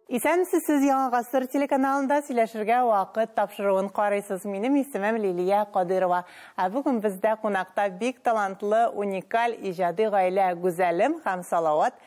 Исәнмесез, сез Яңа гасыр телеканалында сөйләшергә вакыт тапшыруын карыйсыз. Минем исемем Лилия Кадырова. Ә бүген бездә кунакта бик талантлы, уникаль иҗади гаилә Гүзәлем һәм Салават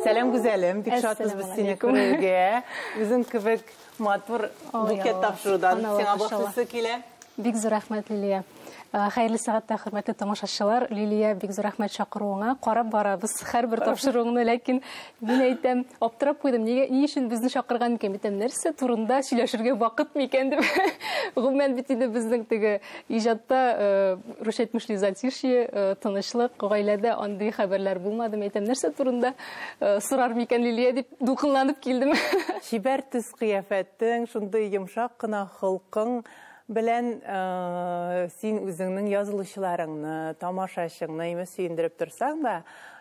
Сәлам гүзәлем, бик шатбыз без сине күрергә. Үзең кебек матур букет тапшырудан сиңа башлысы килә. Бик зур рәхмәт, Лилия. Э, хәерле сәгатьтә хөрмәтле тамашачылар. Лилия, бик зур рәхмәт чакыруыңа. Карап барабыз һәрбер тапшыруыңны, ләкин мин әйтәм, аптырап куйдым. Нигә ни өчен безне чакырган микән? Битәм нәрсә турында сөйләшергә вакыт микән дип. Гомумән бит инде безнең теге Иҗатта Рус әйтмешли затишье, тынычлык, гаиләдә андый хәбәрләр булмады. Мин әйтәм, нәрсә турында сорар микән Лилия дип дулкынланып килдем. Чибәр төс-кыяфәтең, шундый йомшак кына холкың белән син үзеңнең язылучыларыңны, тамашачыңны имеш сөендереп торсаң да,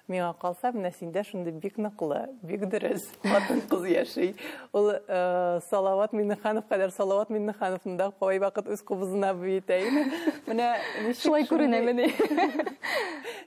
миңа калса, менә синдә шундый бик ныклы, бик дөрес. хатын кыз яши. Ул э, Салават Миннеханов кадәр Салават Миннехановны да кай вакыт үз кубызына бөйтә иде. Менә шулай күренәмени.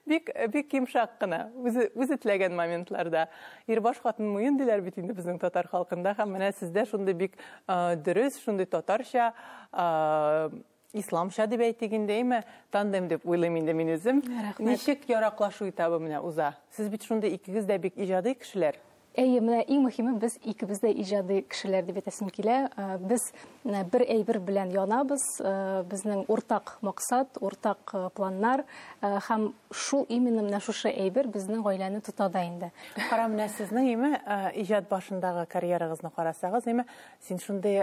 Бик бик йомшак кына, үзе үзе теләгән моментларда. Ирбаш хатын муен диләр бит инде безнең татар халкында һәм менә сездә шундый бик э, дөрес, шундый татарча э, Исламча дип әйтик инде, әйме, тандем дип уйлыйм инде мин үзем. Ничек яраклашу этабы менә уза? Сез бит шундый икегез дә бик иҗади кешеләр. Әйе, менә иң мөһиме без икебез дә иҗади кешеләр дип әйтәсем килә. Э, без э, бер әйбер белән янабыз. Э, безнең уртак максат, уртак планнар һәм шул именно менә шушы әйбер безнең гаиләне тота да инде. Кара менә сезнең име иҗат башындагы карьерагызны карасагыз, име Син шундый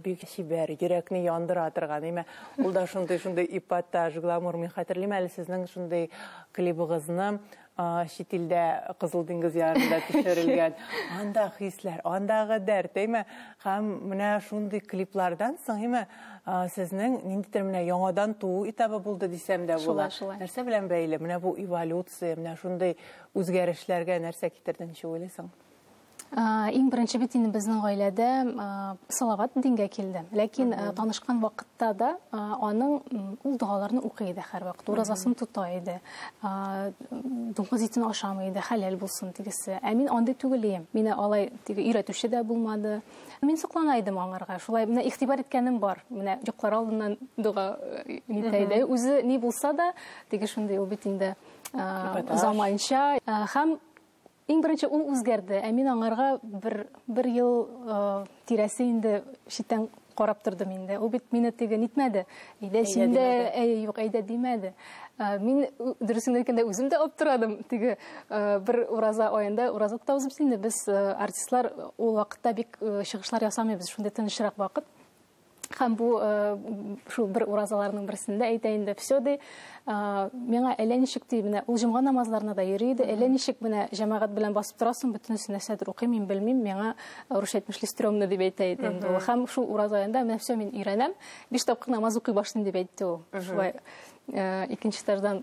бик чибәр, йөрәкне яндыра торган, әйме? Ул да шундый, шундый эпатаж, гламур. Мин хәтерлим әле сезнең шундый клибыгызны чит илдә Кызыл диңгез ярында төшерелгән. Анда хисләр, андагы дәрт, әйме? Һәм менә шундый клиплардан соң, әйме, сезнең ниндидер менә яңадан туу этабы булды дисәм дә була. Нәрсә белән бәйле? Менә бу эволюция, менә шундый үзгәрешләргә нәрсә китерде, ничек уйлыйсың? Иң беренче бит инде безнең гаиләдә Салават дингә килде. Ләкин танышкан вакытта да аның ул догаларны укый иде һәрвакыт. Уразасын тота иде. Дуңгыз итен ашамый иде, хәләл булсын дигесе. Ә мин андый түгел идем. Мине алай диге өйрәтүче дә булмады. Мин соклана идем аңарга. Шулай менә игътибар иткәнем бар. Менә йоклар алдыннан дога итә иде. Үзе ни булса да, диге шундый ул бит инде заманча һәм Иң беренче ул үзгәрде, ә мин аңарга бер, бер ел э, тирәсе инде читтән карап тордым инде. Ул бит мине теге нитмәде. Әйдә син дә, әй, юк, әйдә димәде. Э, мин дөресен әйткәндә үзем дә аптырадым. Теге э, бер ураза аенда ураза тотабыз без инде. Без э, артистлар ул вакытта бик э, чыгышлар ясамыйбыз. Шундый тынычрак вакыт. Һәм бу шул бер уразаларның берсендә әйтә инде, все ди, миңа әллә ничек ди, менә ул җомга намазларына да йөри иде, әллә ничек менә җәмәгать белән басып торасың, бөтенесе нәрсәдер укыйм, мин белмим, миңа русча әйтмешли стрёмно дип әйтә иде инде ул. Һәм шул ураз аенда менә все мин өйрәнәм, биш тапкыр намаз укый башлыйм дип әйтте ул. Шулай икенче этаждан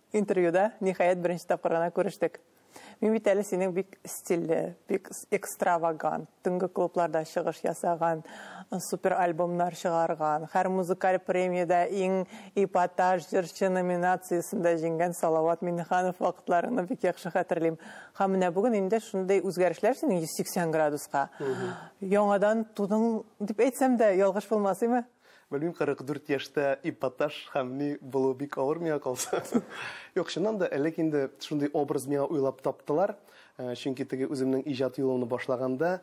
Интервьюда, ниһаять, беренче тапкыр гына күрештек. Мин бит әле синең бик стильле, бик экстравагант, төнге клубларда чыгыш ясаган, супер альбомнар чыгарган, һәр музыкаль премиядә иң эпатаж җырчы номинациясендә җиңгән Салават Миннеханов вакытларыңны бик яхшы хәтерлим. Һәм менә бүген инде шундый үзгәрешләр синең 180 градуска. Яңадан тудың дип әйтсәм дә ялгыш булмас, име? Белмим, 44 яшьтә эпатаж һәм ни булу бик авыр миңа калса. Юк, чыннан да, элек инде шундый образ миңа уйлап таптылар. Э, чөнки теге үземнең иҗат юлымны башлаганда,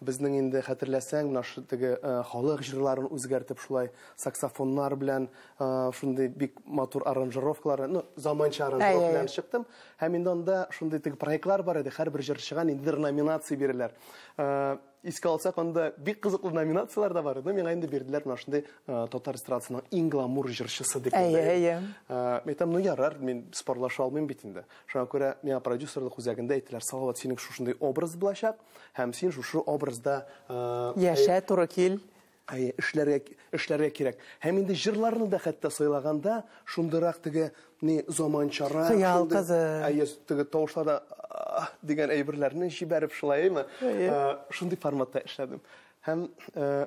безнең инде хәтерләсәң, менә шу теге э, халык җырларын үзгәртеп шулай саксофоннар белән э, шундый бик матур аранжировкалар, ну, заманча аранжировка белән чыктым. Һәм инде анда шундый теге проектлар бар иде, һәрбер җырчыга ниндидер номинация бирәләр. Искә алсак, анда бик кызыклы номинацияләр дә бар иде. Миңа инде бирделәр менә шундый э, татар эстрадасының иң гламур җырчысы дип. Әйе, әйе. Э, Мин әйтәм, ну ярар, мин спорлаша алмыйм бит инде. Шуңа күрә миңа продюсерлык үзәгендә әйттеләр, Салават, синең шушындый образ булачак, һәм син шушы образда э, Яшә, туры кил. Әйе, эшләргә, эшләргә кирәк. Һәм инде җырларны да хәтта сайлаганда, шундырак теге ни заманчара, Хыял шундый- кызы. Әйе, теге тавышларда «Аһ!» дигән әйберләрне җибәреп шулай, әйеме? Әйе. Э, Шундый форматта эшләдем. Һәм э,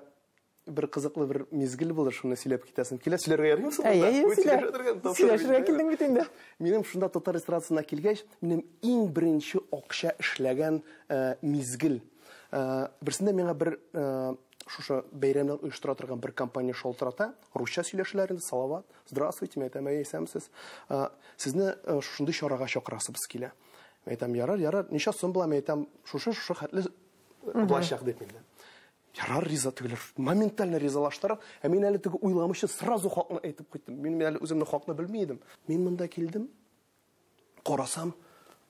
бер кызыклы бер мизгел булды, шуны сөйләп китәсем килә. Сөйләргә ярыймы соң? Әйе, монда? әйе, Бу сөйлә. сөйләшә торган тапшырык Сөйләшергә җибәрәм. килдең бит инде. Минем шунда татар эстрадасына килгәч, минем иң беренче акча эшләгән э, мизгел. Э, берсендә миңа бер э, Шушы бәйрәмнәр оештыра торган бер компания шалтырата, русча сөйләшәләр инде, салават, здравствуйте, мин әйтәм, әй, исәмсез. Э, сезне э, шушындый чарага чакырасыбыз килә. Мин әйтәм, ярар, ярар, ничә сум була, мин әйтәм, шушы, шушы хәтле булачак дип инде. Ярар, риза тегеләр. Моментально ризалаштырып, ә мин әле теге уйламыйча сразу хакны әйтеп куйдым. Мин әле үземне хакны белми идем. Мин монда килдем, Карасам,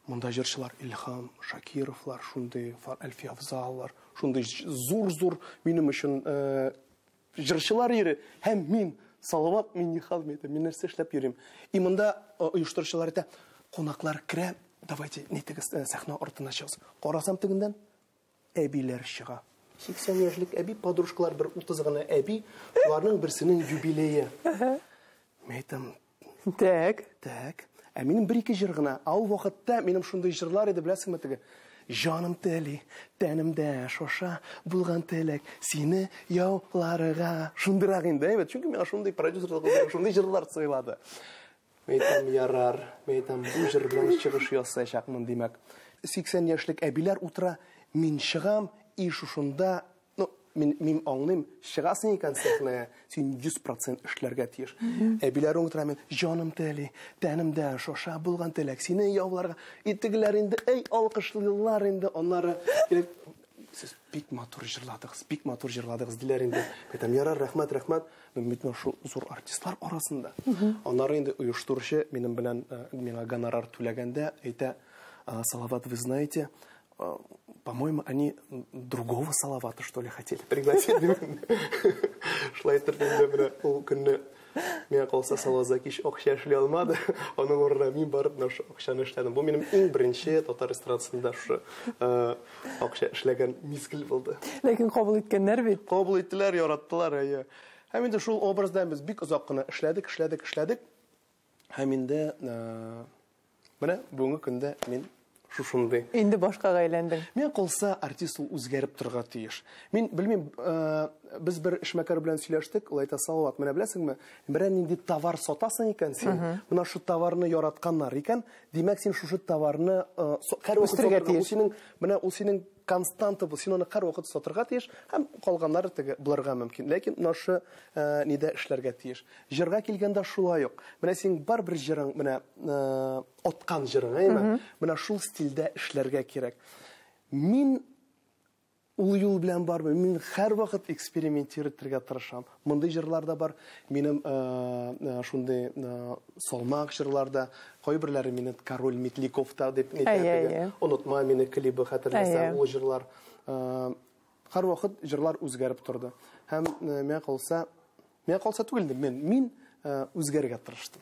монда җырчылар Илһам Шакировлар, шундый Әлфия Афзаллар, шундый зур-зур минем өчен э, җырчылар ире һәм мин Салават Минниханов әйтә, мин нәрсә эшләп йөрим. И монда э, оештыручылар әйтә, кунаклар керә, давайте нитегез э, сәхнә артына чыгыз. Карасам тегендән әбиләр чыга. 80 яшьлек әби, подружкалар бер 30 гына әби, шуларның берсенең юбилее. Мин әйтәм, Так. Так. Ә минем бер-ике җыр гына. А ул вакытта минем шундый җырлар иде, беләсеңме теге? Җаным тели, тәнемдә шоша, булган теләк сине яуларга. Шундыйрак инде, әйбәт. Чөнки миңа шундый продюсерлык, шундый җырлар сайлады. Мәйтәм, ярар, мәйтәм, бу җырдан чыгыш ясаячакмын, димәк. 80 яшьлек әбиләр утыра, мин чыгам, и шушында, ну, мин, мин аңлыйм, чыгасың икән сәхнәгә, син 100% эшләргә тиеш. Әбиләр утыра, мин, җаным тели, тәнем дә шаша, булган теләк, сине яуларга, и тегеләр инде, әй, алкышлыйлар инде, аннары, Сез бик матур җырладыгыз, бик матур җырладыгыз, диләр инде. Әйтәм, ярар, рәхмәт, рәхмәт. Мин бит менә шул зур артистлар арасында. Аннары инде оештыручы минем белән э, миңа гонорар түләгәндә әйтә, «Э, Салават, вы знаете, э, по-моему, они другого Салавата, что ли, хотели пригласить. Шулай итеп инде менә ул көнне Миңа калса Салаза кич акча эшли алмады. Аның урынына мин барып нашы акчаны эшләдем. Бу минем иң беренче татар эстрадасында шушы э, акча эшләгән мизгел булды. Ләкин кабул иткәннәр бит. Кабул иттеләр, яраттылар, әйе. Һәм инде шул образда без бик озак кына эшләдек, эшләдек, эшләдек. Һәм инде э, Менә бүгенге көндә мин шушындый. Инде башкага әйләндең. Миңа калса, артист ул үзгәреп торырга тиеш. Мин белмим, э, без бер эшмәкәр белән сөйләштек, ул әйтә, Салават, менә беләсеңме, берәр нинди товар сатасың икән син, менә шу товарны яратканнар икән, димәк, син шушы товарны э, һәрвакыт сатырга тиеш. Ул синең, менә ул синең константа бу, син аны һәрвакыт сатырга тиеш, һәм калганнары теге булырга мөмкин. Ләкин нашы э, нидә эшләргә тиеш? Җырга килгәндә шулай ук. Менә син бар бер җырың, менә э, откан җырың, әйме? Менә шул стильдә эшләргә кирәк. Мин ул юл белән бармыйм. Мин һәрвакыт экспериментировать итәргә тырышам. Мондый җырлар да бар. Минем шундый салмак җырлар да. Кайберләре мине Король Метликов та дип әйтә. Онытма мине клибы хәтерләсәң, ул җырлар. Һәрвакыт җырлар үзгәреп торды. Һәм миңа калса, миңа калса түгел инде, мин үзгәрергә тырыштым.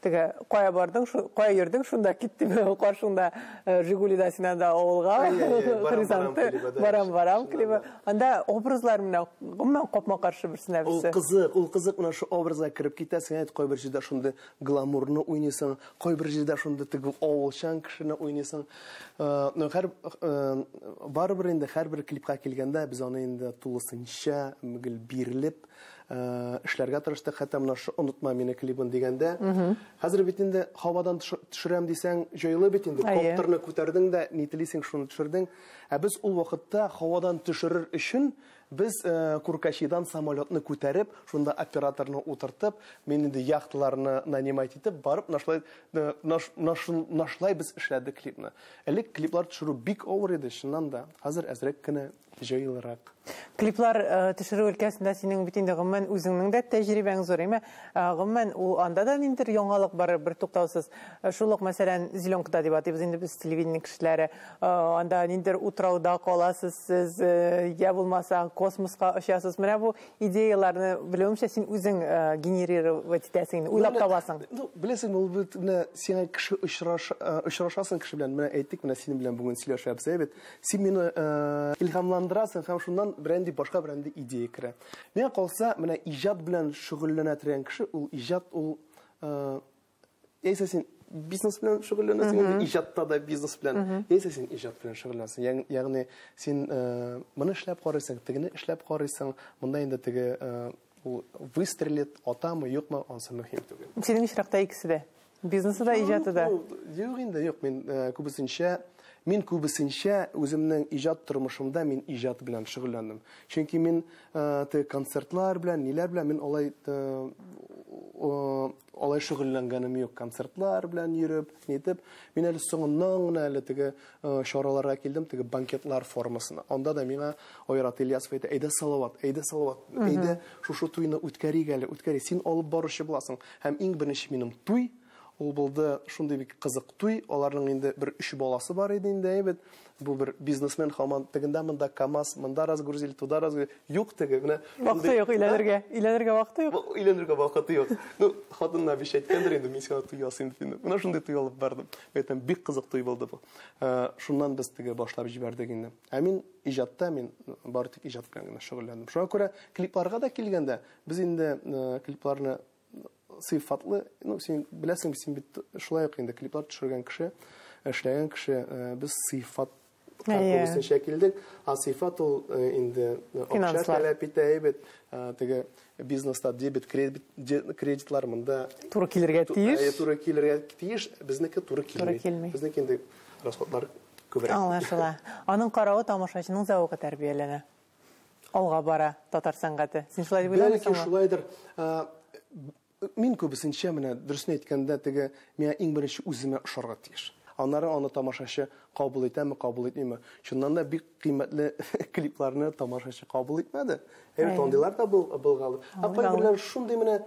Теге, кая бардың, кая йөрдең, шунда кит, дип, каршыңда Жигулида син анда авылга, хризанты, барам, барам клибы. Анда образлар менә гомумән капма-каршы берсенә берсе. Ул кызык, ул кызык менә шу образга кереп китәсең, әйт кайбер җирдә шундый гламурны уйныйсың, кайбер җирдә шундый теге авылчан кешене уйныйсың. Ну, хәр барыбер инде һәрбер клипка килгәндә без аны инде тулысынча гел бирелеп, эшләргә тырыштык, хәтта менә шу онытма мине клибын дигәндә. Хәзер бит инде һавадан төшерәм дисәң, җайлы бит инде. Коптерны күтәрдең дә, ни телисең, шуны төшердең. Ә без ул вакытта һавадан төшерер өчен без Куркачидан самолетны күтәреп, шунда операторны утыртып, мин инде яхталарны нанимать итеп, барып нашлай нашлай без эшләдек клипны. Элек клиплар төшерү бик авыр иде, чыннан да. Хәзер әзрәк кенә. җайлырак. Клиплар э, төшерү өлкәсендә синең бит инде гомумән үзеңнең дә тәҗрибәң зур, әмма э, гомумән ул анда да ниндидер яңалык бар, бер туктаусыз. Э, шул ук, мәсәлән, зеленкада дип атыйбыз инде без телевидение кешеләре. Анда ниндидер утрауда каласыз сез, я булмаса космоска очасыз. Менә бу идеяларны белүемчә син үзең генерировать итәсең, уйлап табасың. Ну, беләсең, ул бит менә сиңа кеше очрашасың кеше белән. Менә әйттек, менә синең белән бүген сөйләшәбез, әйбәт. Син мине э, илһамландырасың һәм шуннан бренди башка бренди идея керә. Миңа калса, менә иҗат белән шөгыльләнә торган кеше, ул иҗат ул э, яисә син бизнес белән шөгыльләнәсең, mm -hmm. иҗатта да бизнес белән, mm -hmm. яисә син иҗат белән шөгыльләнәсең. Ягъни син э, моны эшләп карыйсың, тегене эшләп карыйсың, монда инде теге э, Ул выстрелит атамы, юкмы, ансы мөһим түгел. Синең очракта икесе дә. Бизнесы да, иҗаты да. Юк инде, юк, мин э, күбесенчә мин күбесенчә үземнең иҗат тормышымда мин иҗат белән шөгыльләндем. Чөнки мин э, те концертлар белән, ниләр белән мин алай э, алай шөгыльләнгәнем юк. Концертлар белән йөреп, нитеп, мин әле соңыннан гына әле теге чараларга килдем, теге банкетлар формасына. Анда да миңа Айрат Ильясов әйтә, әйдә Салават, әйдә Салават, әйдә шушы туйны үткәрик әле, үткәри, син алып баручы буласың. Һәм иң беренче минем туй, ул булды шундый бик кызык туй, аларның инде бер өч баласы бар иде инде, әйбет. Бу бер бизнесмен хаман тегендә монда КАМАЗ, монда разгрузили, туда разгрузили. Юк теге, менә. Вакыты юк өйләнергә. Өйләнергә вакыты юк. Өйләнергә вакыты юк. Ну, хатынына биш әйткәндер инде, мин сиңа туй ясыйм дип. Менә шундый туй алып бардым. Әйтәм, бик кызык туй булды бу. Э, шуннан без теге башлап җибәрдек инде. Ә мин иҗатта мин бары тик иҗат белән генә шөгыльләндем. Шуңа күрә клипларга да килгәндә, без инде э, клипларны сыйфатлы, ну син беләсең, син бит шулай ук инде клиплар төшергән кеше, эшләгән кеше, э, без сыйфат Күбесенчә килдек. Сыйфат ул инде акча таләп итә, әйбәт. Теге бизнеста дебет, кредитлар монда. Туры килергә тиеш. Әйе, туры килергә тиеш. Безнеке туры килми. Туры килми. Безнеке инде расходлар күбрәк. Аңлашыла. Аның каравы тамашачының зәвыгы тәрбияләнә. Алга бара татар сәнгате. Син шулай дип уйламыйсыңмы? Бәлки шулайдыр. Мин күбесенчә, менә дөресен әйткәндә, теге миңа иң беренче үземә ошарга тиеш. Аннары аны тамашачы кабул итәме, кабул итмиме. Чыннан да бик кыйммәтле клипларны тамашачы кабул итмәде. Әйбәт андыйлар да булга алды. Ә кайберләр шундый менә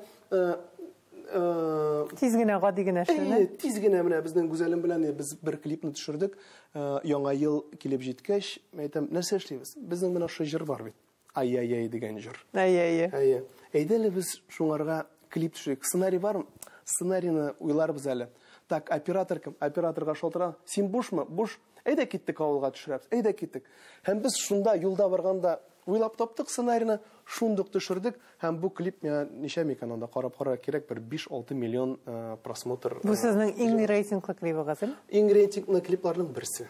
тиз генә гади генә шуны. Әйе, тиз генә менә безнең Гүзәлем белән без бер клипны төшердек. Яңа ел килеп җиткәч, әйтәм, нәрсә эшлибез? Безнең менә шушы җыр бар бит. Ай-яй-яй дигән җыр. Әйе-әйе. Әйе. Әйдә әле без шуңарга клип төшик. Сценарий бармы? Сценарийны уйларбыз әле. Так, оператор кем? Операторга шалтыра. Син бушмы? Буш. Әйдә киттек авылга төшерәбез. Әйдә киттек. Һәм без шунда юлда барганда уйлап таптык сценарийны, шундук төшердек һәм бу клип миңа ничә микән анда карап карар кирәк бер 5-6 миллион э, просмотр. Бу э, сезнең иң рейтинглы клибыгыз, Иң рейтинглы клипларның берсе.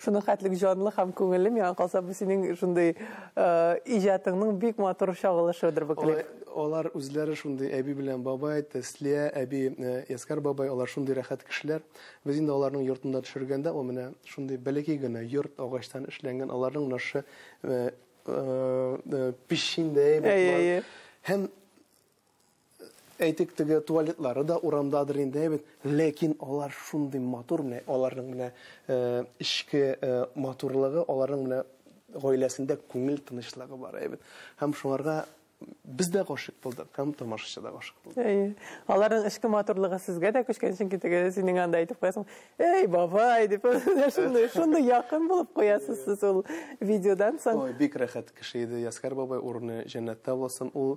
Шуның хәтлек җанлы һәм күңелле, миңа калса, бу синең шундый иҗатыңның бик матур чагылышыдыр бу клип. Алар үзләре шундый әби белән бабай, Тәслия әби, Яскар бабай, алар шундый рәхәт кешеләр. Без инде аларның йортында төшергәндә, ул менә шундый бәләкәй генә йорт, агачтан эшләнгән, аларның нашы печиндәй бит. Әйе, әйе. Һәм Әйтик, теге туалетлары да урамдадыр инде, әйбәт. Ләкин алар шундый матур, менә аларның менә э, эчке э, матурлыгы, аларның менә гаиләсендә күңел тынычлыгы бар, әйбәт. Һәм шуңарга без дә гашыйк булдык, һәм тамашачы да гашыйк булды. Әйе. Аларның эчке матурлыгы сезгә дә күчкән, чөнки теге синең анда әйтеп куясың. Эй, бабай, дип, шундый, шундый якын булып куясыз сез ул видеодан соң. Ой, бик рәхәт кеше иде Яскар бабай, урыны җәннәттә булсын. Ул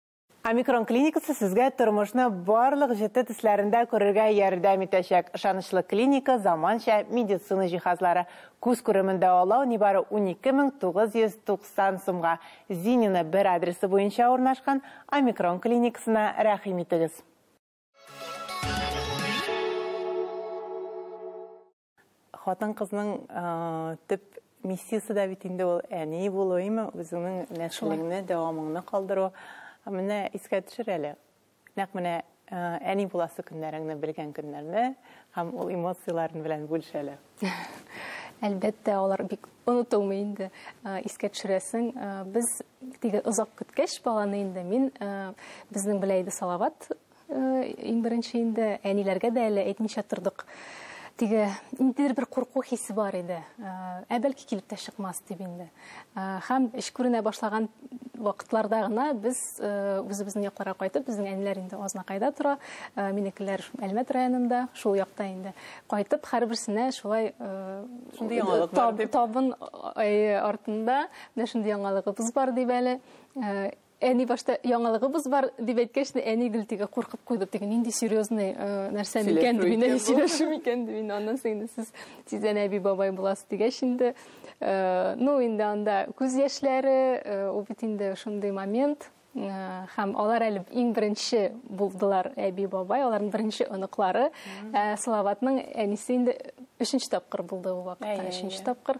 Омикрон клиникасы сезгә тормышны барлык җете төсләрендә күрергә ярдәм итәчәк. Ышанычлы клиника, заманча медицина җиһазлары. Күз күремен дәвалау нибары 12990 сумга. Зинина бер адресы буенча урнашкан Омикрон клиникасына рәхим итегез. Хатын-кызның төп миссиясе дә бит инде ул әни булу, әйме, үзеңнең нәселеңне, дәвамыңны калдыру. Менә искә төшер әле. Нәкъ менә әни буласы көннәреңне белгән көннәрне һәм ул эмоцияләрен белән бүлеш әле. Әлбәттә, алар бик онытылмый инде. Искә төшерәсең, без теге озак көткәч баланы инде мин безнең беләйде Салават Иң беренче инде әниләргә дә әле әйтмичә тордык. Теге ниндидер бер курку хисе бар иде. Ә бәлки килеп тә чыкмас дип инде. Һәм эш күренә башлаган вакытларда гына без үзебезнең якларга кайтып, безнең әниләр инде Азнакайда тора, минекеләр Әлмәт районында, шул якта инде. Кайтып, һәрберсенә шулай табын артында менә шундый яңалыгыбыз бар дип әле Әни башта яңалыгыбыз бар дип әйткәч, әни гел теге куркып куйды, теге нинди серьезный э, нәрсә микән дип, инде сөйләшү микән дип, инде аннан соң инде сез тиздән әби бабай буласыз дигәч инде, э, ну инде анда күз яшьләре, э, ул бит инде шундый момент, һәм алар әле иң беренче булдылар әби бабай, аларның беренче оныклары. Салаватның әнисе инде өченче тапкыр булды ул вакытта, өченче тапкыр.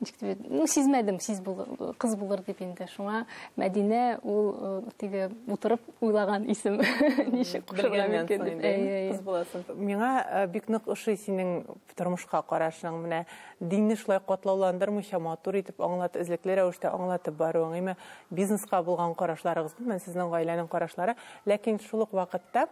ничек дип ну сизмәдем сиз булыр кыз булыр дип инде шуңа мәдинә ул э, теге утырып уйлаган исем ничек кушырга мөмкин дип кыз буласың миңа э, бик нык ошый синең тормышка карашың менә динне шулай катлауландырмыйча матур итеп аңлат эзлекле рәвештә аңлатып баруың әмма бизнеска булган карашларыгыз мен сезнең гаиләнең карашлары ләкин шул ук вакытта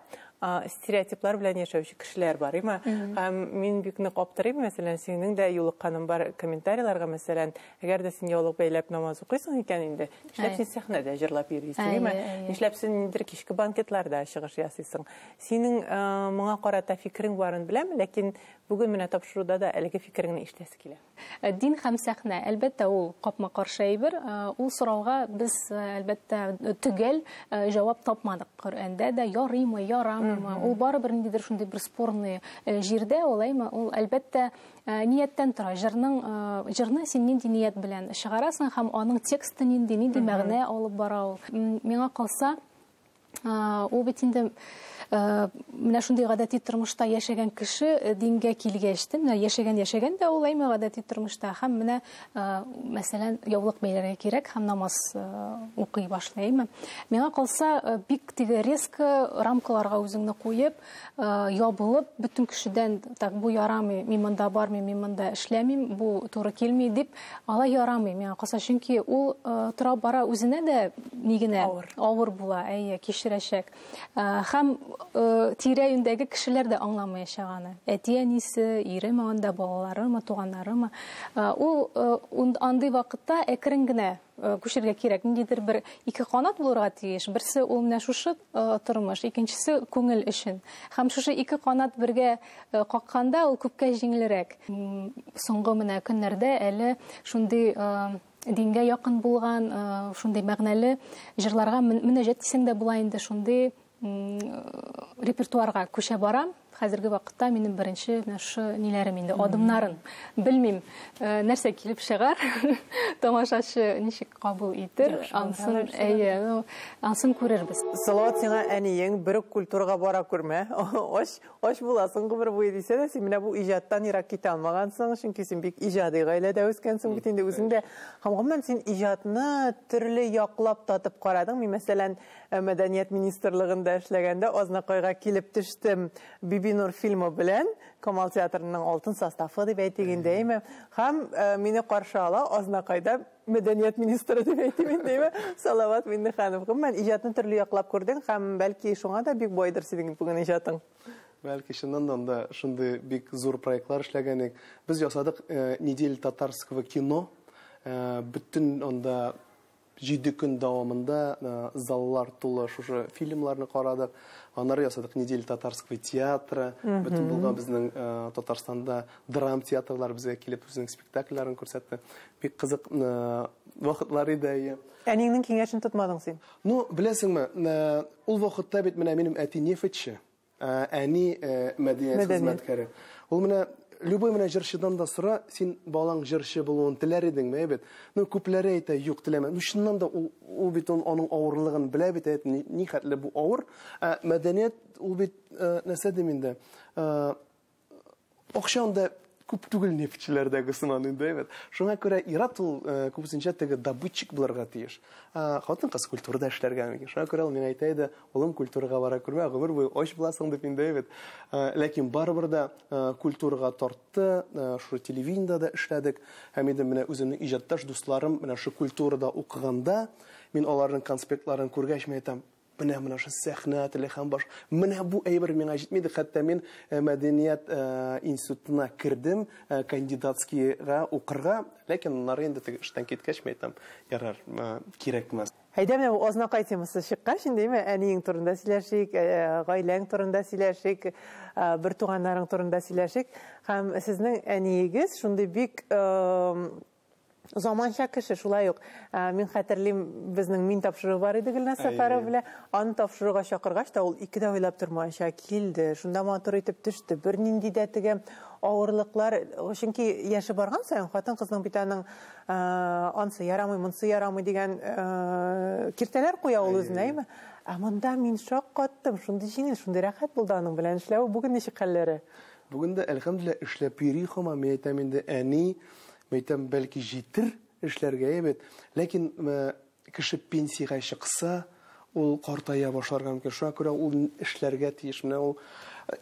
стереотиплар белән яшәүче кешеләр бар има һәм мин бик нык аптырыйм мәсәлән синең дә юлыкканың бар комментарийларга мәсәлән әгәр дә син яулык бәйләп намаз укыйсың икән инде нишләп син сәхнәдә җырлап йөрисең има нишләп син ниндидер кичке банкетларда чыгыш ясыйсың синең моңа карата фикерең барын беләм ләкин бүген менә тапшыруда да әлеге фикереңне ишетәсе килә Ә дин һәм сәхнә, әлбәттә, ул капма-каршы әйбер. Ә, Ул сорауга без, ә, әлбәттә, төгәл ә, җавап тапмадык. Коръәндә дә ярыймы, ярамыймы, ул барыбер ниндидер шундый бер спорный ә, җирдә, алаймы? Ул, әлбәттә, ә, нияттән тора. Җырның, ә, җырны син нинди ният белән чыгарасың һәм аның тексты нинди, нинди мәгънә алып бара ул. М, Миңа калса, Ул бит инде менә шундый гадәти тормышта яшәгән кеше дингә килгәч, менә яшәгән яшәгән дә ул әйме гадәти тормышта һәм менә мәсәлән яулык бәйләргә кирәк һәм намаз укый башлый, әйме. Миңа калса, бик теге резко рамкаларга үзеңне куеп, Э, ябылып бөтен кешедән так бу ярамый мин монда бармыйм мин монда эшләмим бу туры килми дип алай ярамый миңа калса чөнки ул э, тора бара үзенә дә ни генә авыр авыр була әйе кичерәчәк э, һәм тирә юньдәге кешеләр дә аңламаячак аны әти әнисе иреме анда балаларымы туганнарымы ул андый вакытта әкрен генә Э, күчергә кирәк ниндидер бер ике канат булырга тиеш берсе ул менә шушы э, тормыш икенчесе күңел өчен һәм шушы ике канат бергә э, какканда ул күпкә җиңелрәк соңгы менә көннәрдә әле шундый дингә якын булган шундый мәгънәле җырларга мөнәҗәт дисәң дә була инде шундый репертуарга күчә барам. Хәзерге вакытта минем беренче менә шушы ниләрем инде, адымнарын. Белмим, э, нәрсә килеп чыгар, тамашачы ничек кабул итер, ансын, әйе, ну, ансын күрербез. Салават сиңа әниең бер үк культурага бара күрмә. Ач, ач буласың гомер буе дисә дә, син менә бу иҗаттан ерак китә алмагансың, чөнки син бик иҗади гаиләдә үскәнсең бит инде үзең дә. Һәм гомумән син иҗатны төрле яклап татып карадың. Мин мәсәлән, Ә мәдәният министрлыгында эшләгәндә Азнакайга килеп төштем. Бибинур фильмы белән Камал театрының алтын составы дип әйтик инде, әйме? Һәм э, мине каршы ала Азнакайда мәдәният министры дип әйтим инде, әйме? Салават Миннеханов. Гомумән, иҗатны төрле яклап күрдең һәм бәлки шуңа да бик байдыр синең бүген иҗатың. Бәлки чыннан да анда шундый бик зур проектлар эшләгән идек. Без ясадык э, неделя татарского кино. Э, бөтен анда Җиде көн дәвамында заллар тулы шушы фильмларны карадык. Аннары ясадык неделя татарского театра. Бөтен булган безнең Татарстанда драм театрлар безгә килеп үзенең спектакльләрен күрсәтте. Бик кызык вакытлар иде, әйе. Әниеңнең киңәшен тотмадың син? Ну, беләсеңме, ул вакытта бит менә минем әти нефтьче. Әни мәдәният хезмәткәре. Ул менә любой менә җырчыдан да сора, син балаң җырчы булуын теләр идеңме, әйбәт. Ну, күпләре әйтә, юк, теләмәм. Ну, чыннан да ул, ул бит он, аның авырлыгын белә бит, әйбәт, ни, ни хәтле бу авыр. Ә мәдәният ул бит нәрсә дим инде? Акча анда күп түгел нефтьчеләрдәге сыман инде, әйбәт. Шуңа күрә ир-ат ул э, күбесенчә теге добытчик булырга тиеш. Ә хатын-кыз культурада эшләргә мөмкин. Шуңа күрә ул миңа әйтә иде, улым культурага бара күрмә, гомер буе ач буласың дип инде, әйбәт. Ә, Ләкин барыбер дә ә, культурага тартты, ә, шул телевидениедә дә эшләдек. Һәм инде менә үземнең иҗатташ дусларым менә шул культурада укыганда, мин аларның конспектларын күргәч, мин әйтәм, Менә менә шул сәхнә теле һәм баш. Менә бу әйбер миңа җитмиде. Хәтта мин э, мәдәният э, институтына кердем, э, кандидатскийга укырга, ләкин аннары инде теге эштән киткәч, мин әйтәм, ярар, кирәкмәс. Әйдә менә бу азнакай темасы чыккач, инде әйме, әниең турында сөйләшик, гаиләң турында сөйләшик, бер туганнарың турында сөйләшик. Һәм сезнең әниегез шундый бик Заманча кеше шулай ук. Ә, мин хәтерлим, безнең мин тапшыруы бар иде Гөлназ Әйе. Сәфәрова белән. Аны тапшыруга чакыргач та ул ике дә уйлап тормаенча килде. Шунда матур итеп төште. Бернинди дә теге авырлыклар, чөнки яше барган саен хатын-кызның бит аның ә, ансы ярамый, монсы ярамый дигән ә, киртәләр куя ул үзенә, әйме? Ә монда мин шаккаттым, шундый җиңел, шундый рәхәт булды аның белән эшләве. Бүген ничек хәлләре? Бүген дә, әлхәмдүлилләһ, эшләп йөри һаман. Мин әйтәм инде, әни Мәйтәм, бәлки җитер, эшләргә әйбәт. Ләкин кеше пенсиягә чыкса, ул картая башларга мөмкин. Шуңа күрә ул эшләргә тиеш. Менә ул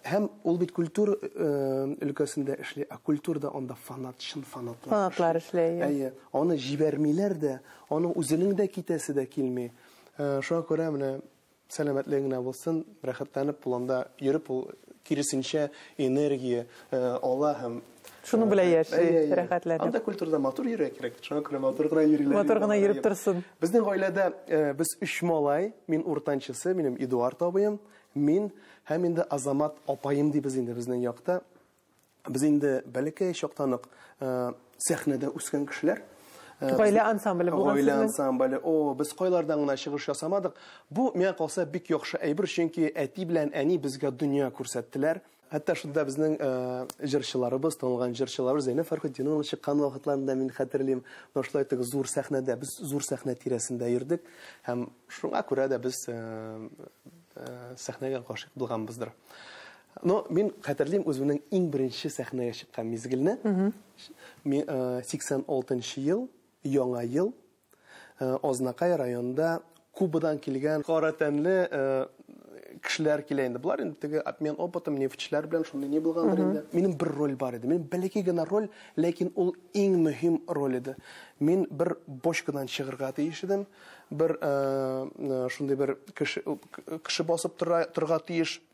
һәм ул бит культур өлкәсендә эшли, а культурда анда фанат, чын фанатлар. Фанатлар эшли. Әйе. Аны җибәрмиләр дә, аның үзенең дә китәсе дә килми. Шуңа күрә менә Сәламәтлеге генә булсын, рәхәтләнеп ул анда йөреп, ул киресенчә энергия ала һәм Шуның белән яши, рәхәтләнеп. Анда культурада матур йөрергә кирәк. Шуңа күрә матур гына йөриләр. Матур гына йөреп торсын. Безнең гаиләдә без өч малай, мин уртанчысы, минем Эдуард абыем, мин һәм инде Азамат апаем дибез инде безнең якта. Без инде бәләкәй чактан ук сәхнәдә үскән кешеләр. Гаилә ансамбле булган сезнең. Гаилә ансамбле. О, без кайлардан гына чыгыш ясамадык. Бу миңа калса бик яхшы әйбер, чөнки әти белән әни безгә дөнья күрсәттеләр. Хәтта шунда безнең җырчыларыбыз, танылган җырчыларыбыз Зәйнәб Фәрхетдинованың чыккан вакытларын да мин хәтерлим. Менә шулай итеп зур сәхнәдә, без зур сәхнә тирәсендә йөрдек һәм шуңа күрә дә без сәхнәгә гашыйк булганбыздыр. Но мин хәтерлим үземнең иң беренче сәхнәгә чыккан мизгелне. Мин 86 нчы ел, яңа ел, Азнакай районында Кубадан килгән кара тәнле кешеләр килә инде. Болар инде теге обмен опытом, нефтьчеләр белән шундый ни булгандыр инде. Минем бер роль бар иде. Минем бәләкәй генә роль, ләкин ул иң мөһим роль иде. Мин бер бочкадан чыгырга тиеш идем. Бер шундый бер кеше басып торырга тиеш.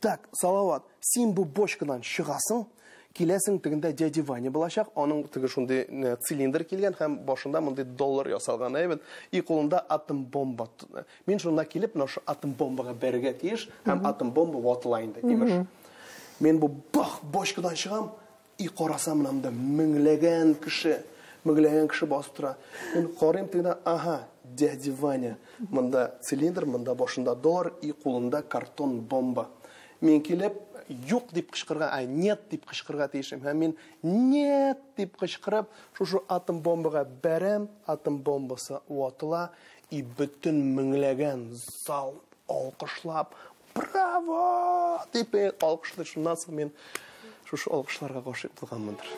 Так, Салават, син бу бочкадан чыгасың, киләсең тегендә дядя Ваня булачак, аның теге шундый э, цилиндр килгән һәм башында мондый доллар ясалган әйбет, и кулында атом бомба. Мин шунда килеп, менә шу атом бомбага бәрергә тиеш, һәм атом бомба ватыла инде, имеш. Мин бу бах бочкадан чыгам, И карасам менә монда меңләгән кеше, меңләгән кеше басып тора. Мин карыйм тегенә, аһа, дядя Ваня. Монда цилиндр, монда башында доллар и кулында картон бомба. Мин килеп, юк дип кычкырырга, ай, нет дип кычкырырга тиешем. Һәм мин нет дип кычкырып, шушы атом бомбага бәрәм, атом бомбасы ватыла и бөтен меңләгән зал алкышлап, Браво! дип мин алкышлый, шуннан соң мин шушы алкышларга гашыйк булганмындыр.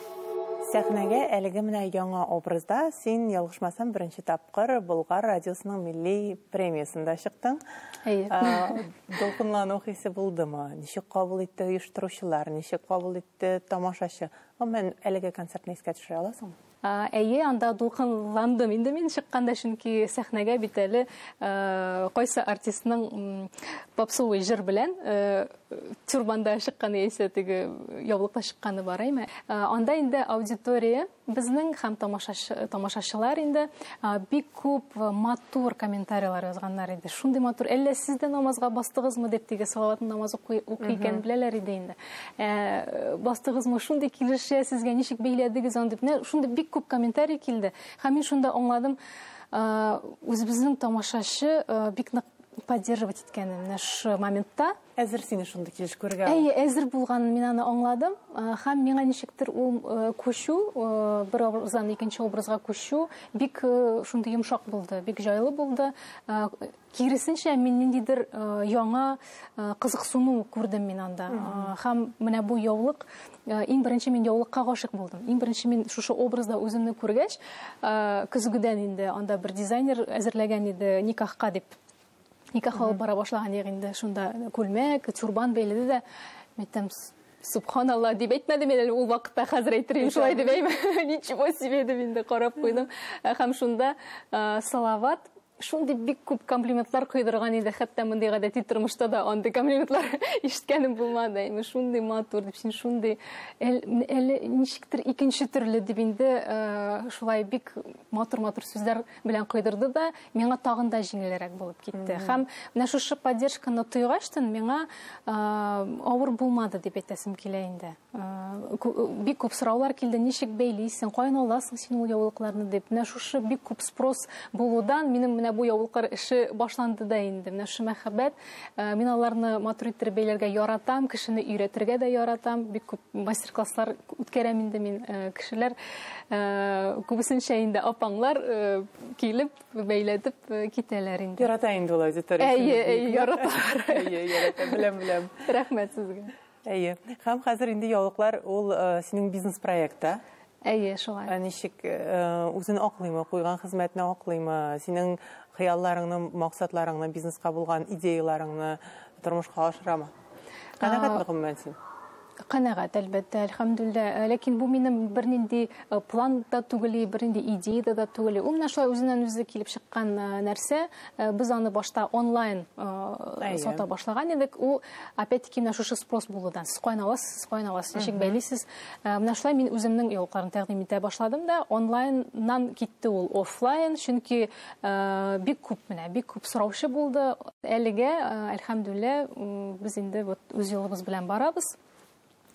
Сәхнәгә әлеге менә яңа образда син, ялгышмасам, беренче тапкыр Болгар радиосының милли премиясендә чыктың. Әйе. Дулкынлану хисе булдымы? Ничек кабул итте оештыручылар, ничек кабул итте тамашачы? Гомумән, әлеге концертны искә төшерә аласыңмы? Әйе, анда дулкынландым инде мин чыкканда, чөнки сәхнәгә бит әле кайсы артистның попсовый җыр белән тюрбанда чыкканы яисә теге яулыкта чыкканы бар әйме. Анда инде аудитория безнең һәм тамашачылар инде бик күп матур комментарийлар язганнар иде. Шундый матур, әллә сез дә намазга бастыгызмы дип, теге салават намаз укый икән беләләр иде инде. Ә, бастыгызмы, шундый килешә сезгә, ничек бәйләдегез аны дип. Шундый бик күп комментарий килде. Һәм мин шунда аңладым, үзебезнең тамашачы бик нык поддерживать иткәнен менә шу моментта әзер сине шундый килеш күрергә әйе әзер булганын мин аны аңладым һәм миңа ничектер ул күчү бер образдан икенче образга күчү бик шундый йомшак булды бик җайлы булды Киресенчә, мин ниндидер яңа кызыксыну күрдем мин анда. Һәм менә бу яулык, иң беренче мин яулыкка гашык булдым. Иң беренче мин шушы образда үземне күргәч, көзгедән инде анда бер дизайнер әзерләгән иде никахка дип. Никах алып бара башлаган ягы инде шунда күлмәк, тюрбан бәйләде дә. Әйтәм, субханалла дип әйтмәдем әле ул вакытта, хәзер әйтермен шулай дип әйме. Ничего себе дип инде карап куйдым. Һәм шунда Салават Шундый бик күп комплиментлар койдырган иде, хәтта мондый гадәти тормышта да андый комплиментлар ишеткәнем булмады. Әйме шундый матур дип, син шундый әле ничектер икенче төрле дип инде э, шулай бик матур-матур сүзләр белән койдырды да, миңа тагын да җиңелрәк булып китте. Һәм менә шушы поддержканы тойгачтын миңа э, авыр булмады дип әйтәсем килә инде. бик күп сораулар килде ничек бәйлисең каян аласың син ул яулыкларны дип менә шушы бик күп спрос булудан минем менә бу яулыклар эше башланды да инде менә шушы мәхәббәт э, мин аларны матур иттереп бәйләргә яратам кешене өйрәтергә дә яратам бик күп мастер класслар үткәрәм инде мин э, кешеләр э, күбесенчә инде апаңлар килеп бәйләтеп китәләр инде ярата инде ул аудитория әйе әйе яраталар әйе ярата беләм беләм рәхмәт сезгә Әйе. Һәм хәзер инде яулыклар ул э, синең бизнес проектта. Әйе, шулай. Ә ничек э, үзен аклыймы, куйган хезмәтне аклыймы, синең хыялларыңны, максатларыңны, бизнеска булган идеяларыңны тормышка ашырамы? Канәгатьме гомумән син? Канәгать, әлбәттә, әлхәмдүллә. Э, ләкин бу минем бернинди э, план да түгел, бернинди идея да түгел. Ул менә шулай үзеннән үзе килеп чыккан нәрсә. Без аны башта онлайн сата башлаган идек. Ул Опять-таки, менә шушы спрос булудан. Сез каян аласыз, сез каян аласыз, ничек бәйлисез? Э, менә шулай мин үземнең яулыкларны тәкъдим итә башладым да, онлайннан китте ул офлайн, чөнки э, бик күп менә, бик күп сораучы булды. Әлегә, э, әлхәмдүллә, без инде вот үз юлыбыз белән барабыз.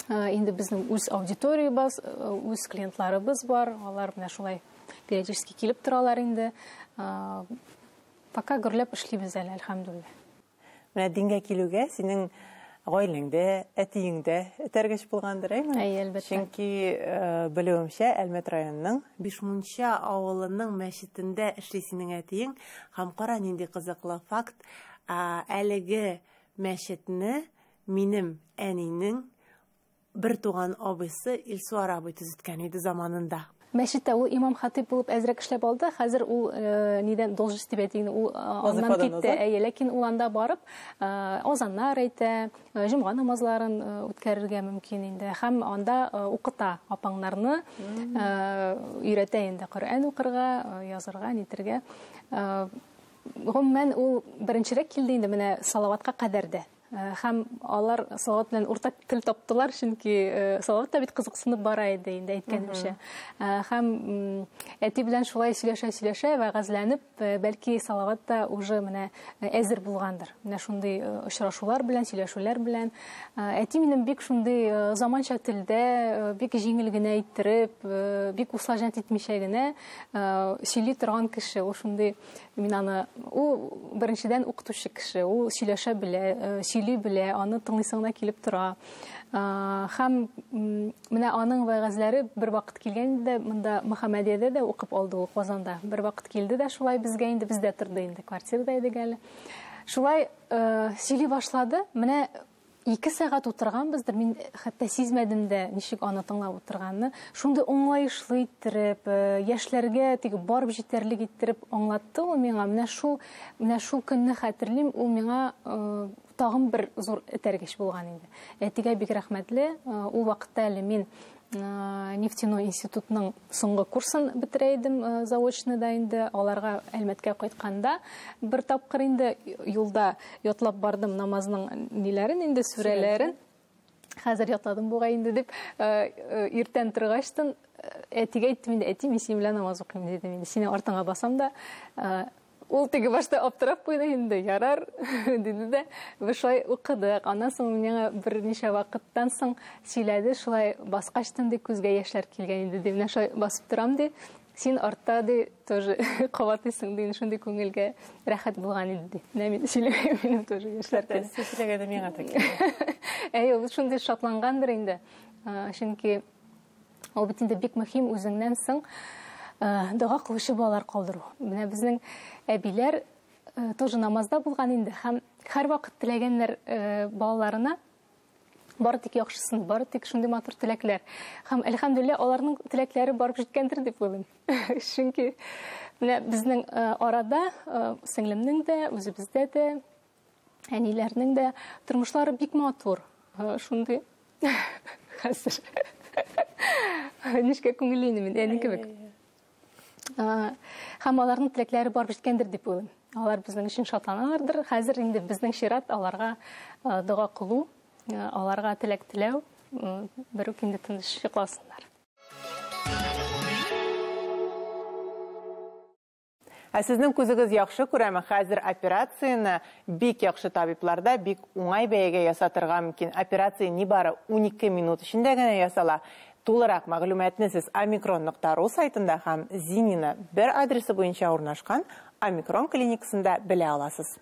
Инде безнең үз аудиториябез, үз клиентларыбыз бар. Алар менә шулай периодически килеп торалар инде. Пока гөрләп эшлибез әле, әлхәмдүллә. Менә дингә килүгә синең гаиләңдә, әтиеңдә этәргеч булгандыр, әйме? Әйе, әлбәттә. Чөнки, белүемчә, Әлмәт районының Бишмунча авылының мәчетендә эшли синең әтиең. Һәм кара, нинди кызыклы факт, әлеге мәчетне минем әнинең Бертуган абыйсы Илсуар абый төзеткән иде заманында. Мәчеттә ул имам-хатыйп булып әзрәк эшләп алды. Хәзер ул э, нидән должность дип әйтик, ул э, аннан китте. Әйе, ләкин ул анда барып э, азаннар әйтә, җомга намазларын үткәрергә мөмкин инде. Һәм анда укыта апаңнарны, өйрәтә инде Коръән укырга, язырга, нитергә. Гомумән ул беренчерәк килде инде менә салаватка кадәр дә. Һәм алар Салават белән уртак тел таптылар, чөнки Салават та бит кызыксынып бара иде инде әйткәнемчә. Һәм әти белән шулай сөйләшә-сөйләшә, вәгазьләнеп, бәлки Салават та уже менә әзер булгандыр. Менә шундый очрашулар белән, сөйләшүләр белән. Әти минем бик шундый заманча телдә, бик җиңел генә иттереп, бик усажнять итмичә генә сөйли торган кеше. Ул шундый Мин аны, ул беренчедән укытучы кеше, ул сөйләшә белә, э, сөйли белә, аны тыңлыйсыңына килеп тора. Э, һәм менә аның вәгазьләре бер вакыт килгән иде, монда Мөхәммәдиядә дә укып алды ул Казанда. Бер вакыт килде дә шулай безгә инде, бездә торды инде, квартирада идек әле. Шулай э, сөйли башлады. Менә Ике сәгать утырганбыздыр, мин хәтта сизмәдем дә, ничек аны тыңлап утырганны. Шундый аңлаешлы иттереп, э, яшьләргә тик барып җитәрлек иттереп аңлатты ул миңа. Менә шул, менә шул көнне хәтерлим, ул миңа э, тагын бер зур этәргеч булган инде. Әтигә бик рәхмәтле. Э, ул вакытта әле мин Э, нефтяной институтның соңгы курсын бетерә идем э, заочно да инде аларга әлмәткә кайтканда бер тапкыр инде юлда ятлап бардым намазның ниләрен инде сүрәләрен хәзер ятладым бугай инде дип э, иртән торгачтын әтигә әйттем инде әти мин синең белән намаз укыйм дидем инде сине артыңа басам да Ул теге башта аптырап куйды инде, ярар, диде дә, без шулай укыдык. Аннан соң миңа берничә вакыттан соң сөйләде, шулай баскачтын ди, күзгә яшьләр килгән инде, ди, менә шулай басып торам, ди, син артта, ди, тоже кабатлыйсың, ди, шундый күңелгә рәхәт булган инде, ди. Менә мин сөйләгән, минем тоже яшьләр килә. Сез сөйләгәндә миңа да килә. Әй, ул шундый шатлангандыр инде, чөнки Ул бит инде бик мөһим үзеңнән соң э, дога кылучы балалар калдыру. Менә безнең әбиләр э, тоже намазда булган инде һәм һәрвакыт теләгәннәр э, балаларына бары тик яхшысын, бары тик шундый матур теләкләр. Һәм әлхәмдүлиллә аларның теләкләре барып җиткәндер дип уйлыйм. Чөнки менә безнең арада сеңлемнең дә, үзебездә дә Әниләрнең дә тормышлары бик матур. Шундый хәзер. Нишкә күңелле инде мин, әни кебек. Һәм аларның теләкләре барып җиткәндер дип уйлыйм. Алар безнең өчен шатланалардыр. Хәзер инде безнең чират аларга дога кылу, аларга теләк теләү, бер үк инде тыныч йокласыннар. Ә сезнең күзегез яхшы күрәме? Хәзер операцияне бик яхшы табибларда бик уңай бәягә ясатырга мөмкин. Операция нибары унике минут эчендә генә ясала. Тулырак мәгълүматны сез Омикрон нокта ру сайтында һәм Зинина бер адресы буенча урнашкан Омикрон клиникасында белә аласыз.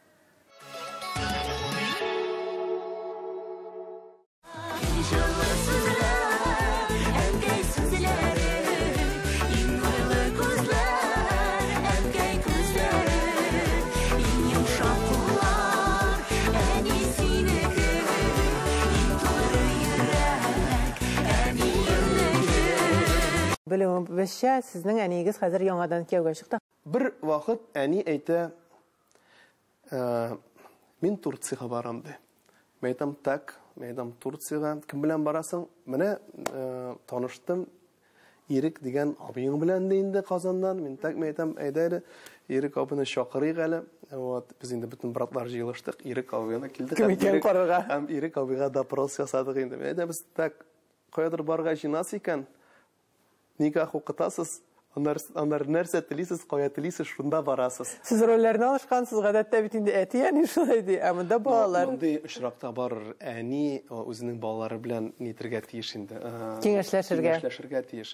Белүебезчә, сезнең әниегез хәзер яңадан кияүгә чыкты. Бер вакыт әни әйтә, Мин Турциягә барам, ди. Мин әйтәм, так, мин әйтәм, Турциягә кем белән барасың? Менә таныштым, Ирек дигән абыең белән дә инде Казаннан. Мин так мин әйтәм, әйдә әле Ирек абыны чакырыйк әле. Вот, без инде бөтен братлар җыелыштык, Ирек абыны килдек. Кем икән карарга? Һәм Ирек абыга допрос ясадык инде. Әйдә без так каядыр барырга җыенасы икән. Нигә куркытасыз? Аннары, аннары нәрсә телисез, кая телисез, шунда барасыз. Сез рольләрне алышкансыз, гадәттә бит инде әти-әни шулай ди, ә монда балалар. Мондый очракта барыр әни үзенең балалары белән нитергә тиеш инде. Киңәшләшергә. Киңәшләшергә тиеш.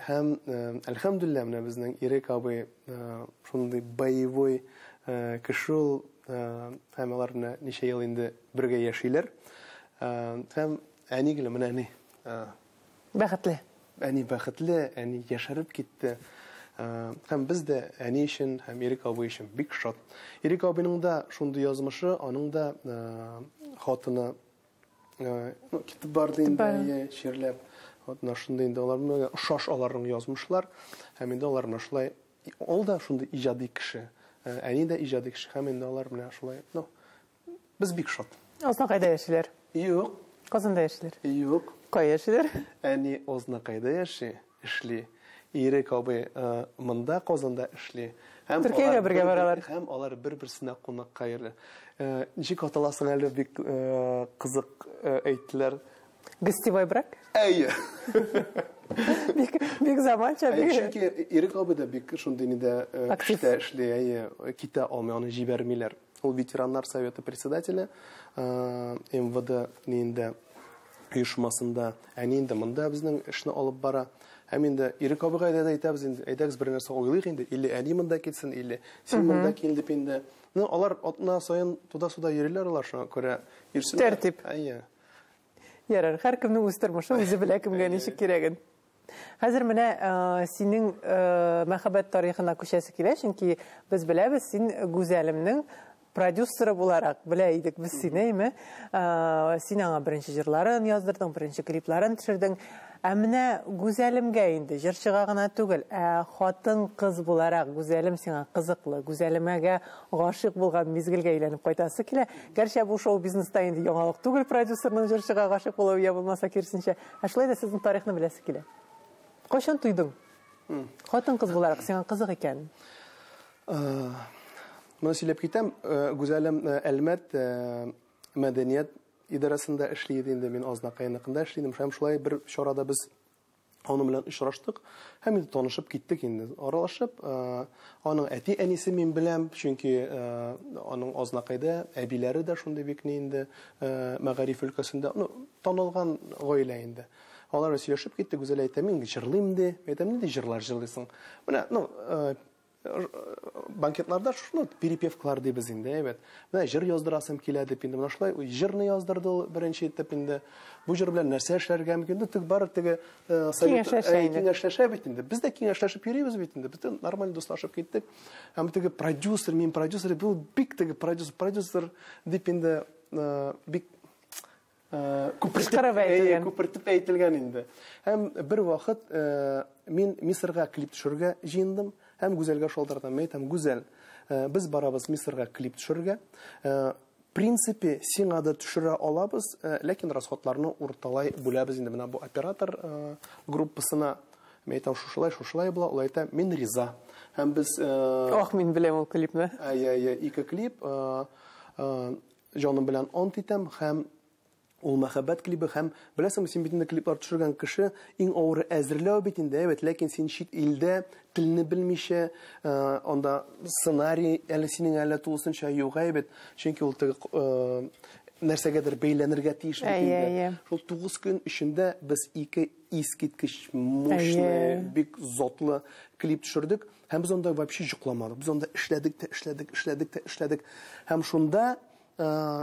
Һәм, әлхәмдүлилләһ, менә безнең Ирек абый шундый боевой кеше ул, һәм алар менә ничә ел инде бергә яшиләр. Һәм әни гел менә ни, Бәхетле. Әни бәхетле, әни яшәреп китте. Һәм без дә әни өчен һәм Ирек абый өчен бик шат. Ирек абыйның да шундый язмышы, аның да хатыны ну, китеп барды инде, әйе, чирләп. Вот менә шундый инде алар ошаш аларның язмышлар. Һәм инде алар менә шулай ул да шундый иҗади кеше. Әни дә иҗади кеше. Һәм инде алар менә шулай, ну, Без бик шат. Азнакайда яшиләр. Юк. Казанда яшиләр. Юк. Кая яшиләр? Әни Азнакайда яши, эшли. Ирек абый э, монда Казанда эшли. Һәм Төркиягә алар бергә бер-бер- баралар. Һәм алар бер-берсенә кунакка йөри. Э, Ничек аталасың әле бик э, кызык э, әйттеләр. Гостевой брак. Әйе. Бик бик заманча, Әйе, бик. чөнки Ирек абый да бик шундый нидә э, Актив. эштә эшли, әйе, китә алмый, аны җибәрмиләр. Ул ветераннар советы председателе МВД нинде оешмасында, әни инде монда безнең эшне алып бара. Һәм инде Ирек абыйга да әйтәбез инде, әйдәгез бер нәрсә уйлыйк инде, или әни монда килсен, или син монда кил дип инде. Ну, алар атна саен туда-суда йөриләр алар шуңа күрә. Тәртип. Әйе. Ярар, һәркемнең үз тормышы, үзе белә кемгә ничек кирәген. Хәзер менә э, синең э, мәхәббәт тарихына күчәсе килә, чөнки без беләбез, син Гүзәлемнең продюсеры буларак белә идек без сине, әйме? Э, син аңа беренче җырларын яздырдың, беренче клипларын төшердең. Ә менә Гүзәлемгә инде җырчыга гына түгел, ә хатын кыз буларак Гүзәлем сиңа кызыклы, Гүзәлемәгә гашык булган мизгелгә әйләнеп кайтасы килә. Гәрчә бу шоу-бизнеста инде яңалык түгел продюсерның җырчыга гашык булуы я булмаса киресенчә. Ә шулай да сезнең тарихны беләсе килә. Кайчан туйдың? Хатын-кыз буларак сиңа кызык икән. Моны сөйләп китәм, Гүзәлем Әлмәт мәдәният идарәсендә эшли иде инде, мин Азнакай яныкында эшли идем. Һәм шулай бер чарада без Аның белән очраштык һәм инде танышып киттек инде. Аралашып, э, аның әти-әнисе мин беләм, чөнки э, аның Азнакайда әбиләре дә шундый бик ни инде э, мәгариф өлкәсендә, ну, танылган гаилә инде. Алар сөйләшеп киттек, Гүзәл әйтә, мин җырлыйм ди. Әйтәм, нинди җырлар җырлыйсың? Менә, ну, банкетларда шуны перепевкалар дибез инде, әйбәт. Менә җыр яздырасым килә дип инде менә шулай җырны яздырды ул беренче итеп инде. Бу җыр белән нәрсә эшләргә мөмкин? Инде тик бары теге э, киңәшләшә бит инде. Без дә киңәшләшеп йөрибез бит инде. Без нормаль дуслашып киттек. Һәм теге продюсер, мин продюсер, бу бик теге продюсер, продюсер дип инде э, бик Кычкырып әйтелгән. Күпертеп әйтелгән инде. Һәм бер вакыт мин Мисырга клип төшерергә җыендым һәм Гүзәлгә шалтыратам. Мин әйтәм, Гүзәл, без барабыз Мисырга клип төшерергә. Принципе, сиңа да төшерә алабыз, ләкин расходларны урталай бүләбез инде менә бу оператор группасына. Мин әйтәм, шушылай, шушылай була. Ул әйтә, мин риза. Һәм без. Ох, мин беләм ул клипны. Әйе, әйе, ике клип. Җаным белән ант итәм һәм Ул мәхәббәт клибы һәм, беләсеңме, син бит инде клиплар төшергән кеше, иң авыры әзерләү бит инде, әйбәт, ләкин син чит илдә, телне белмичә, анда сценарий әле синең әле тулысынча юк, әйбәт, чөнки ул теге нәрсәгәдер бәйләнергә тиеш бит инде. Шул 9 көн эчендә без ике искиткеч мощный, бик затлы клип төшердек. Һәм без анда вообще җокламадык. Без анда эшләдек тә, эшләдек, эшләдек тә, эшләдек. Һәм шунда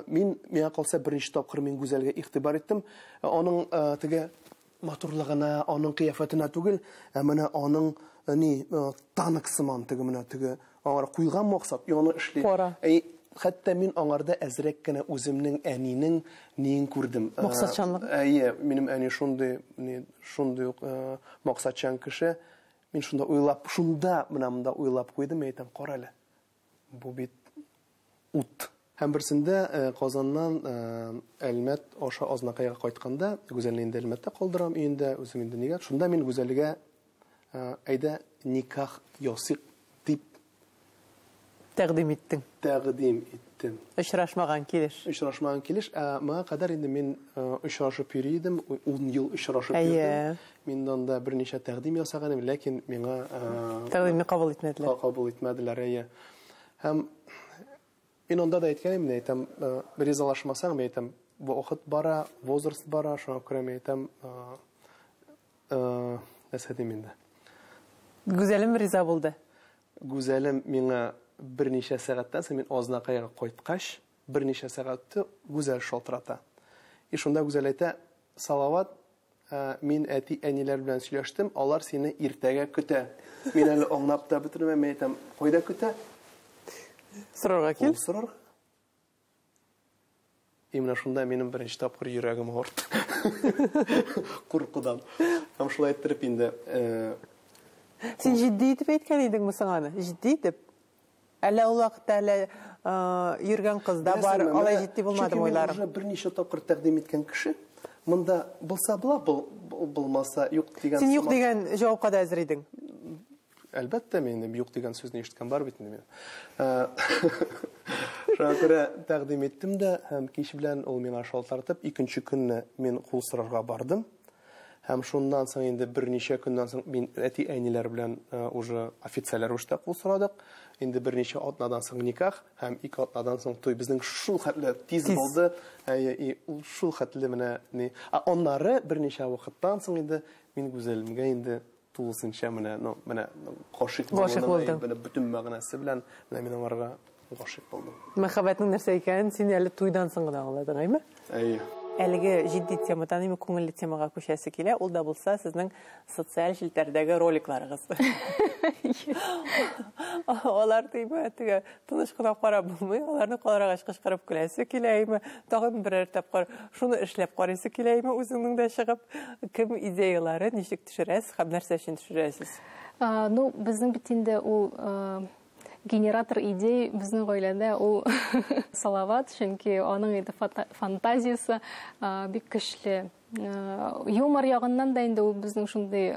мин, миңа калса, беренче тапкыр мин Гүзәлгә игътибар иттем. Аның теге матурлыгына, аның кыяфәтенә түгел, ә менә аның ни танк сыман теге менә теге аңар куйган максат, яны эшли. Әй, хәтта мин аңарда әзрәк кенә үземнең әнинең ниен күрдем. Максатчанлык. Әйе, минем әни шундый, ни, шундый ук максатчан кеше. Мин шунда уйлап, шунда менә монда уйлап куйдым, мин әйтәм, карале. Бу бит ут. Һәм берсендә э, Казаннан э, Әлмәт аша Азнакайга кайтканда, Гүзәлне инде Әлмәттә калдырам өендә, үзем инде нигә. Шунда мин Гүзәлгә э, әйдә никах ясыйк дип Тәкъдим иттең. Тәкъдим иттем. Очрашмаган килеш. Очрашмаган килеш. Ә моңа кадәр инде мин э, очрашып йөри идем, ун ел очрашып йөрдем. Мин анда берничә тәкъдим ясаган идем, ләкин миңа э, тәкъдимне кабул итмәделәр. Кабул итмәделәр, әйе. Һәм Мин анда да әйткән идем, мин әйтәм, ризалашмасаң, мин әйтәм, вакыт бара, возраст бара, шуңа күрә мин әйтәм, нәрсә дим инде. Гүзәлем риза булды. Гүзәлем миңа берничә сәгатьтән соң, мин Азнакайга кайткач, берничә сәгать үтте, Гүзәл шалтырата. И шунда Гүзәл әйтә, Салават, Мин әти-әниләр белән сөйләштем, алар сине иртәгә көтә. Мин әле аңнап та бетермәм, мин әйтәм, кайда көтә? Сорарга кил. Сорар. И менә шунда минем беренче тапкыр йөрәгем авырт. Куркудан. Һәм шулай иттереп инде. Син җитди итеп әйткән идеңме соң аны? Җитди итеп? Әллә ул вакытта әле йөргән кыз да бар, Беләсеңме, алай менә, җитди булмадымы чөнки мин уйларың? уже берничә тапкыр тәкъдим иткән кеше, монда булса була, бу- бу- булмаса юк дигән Син юк сымак. дигән җавапка да әзер идең. Әлбәттә, мин инде юк дигән сүзне ишеткән бар бит инде мин. Ә, Шуңа күрә тәкъдим иттем дә, һәм кич белән ул миңа шалтыратып, икенче көнне мин кул сорарга бардым. Һәм шуннан соң инде берничә көннән соң мин әти-әниләр белән э, уже официаль рәвештә кул сорадык. Инде берничә атнадан соң никах һәм ике атнадан соң туй. Безнең шул хәтле тиз, тиз. булды. Әйе, и ул шул хәтле менә ни. Ә аннары берничә вакыттан соң инде мин Гүзәлемгә инде Тулысынча менә, ну, менә гашыйк булуның менә бөтен мәгънәсе белән менә мин аңарга гашыйк булдым. Мәхәббәтнең нәрсә икәнен син әле туйдан соң гына аңладың, әйме? Әйе. Әлеге җитди темадан имин күңелле темага күчәсе килә, ул да булса сезнең социаль челтәрдәге роликларыгыз. Алар тиме, теге тыныч кына карап булмый, аларны карагач кычкырып көләсе килә име, тагын берәр тапкыр шуны эшләп карыйсы килә име үзеңнең дә чыгып, кем идеяләре, ничек төшерәсез һәм нәрсә өчен төшерәсез? Ну, безнең бит инде ул генератор идей безнең гаиләдә ул Салават, чөнки аның иде фантазиясе бик көчле. Юмор ягыннан да инде ул безнең шундый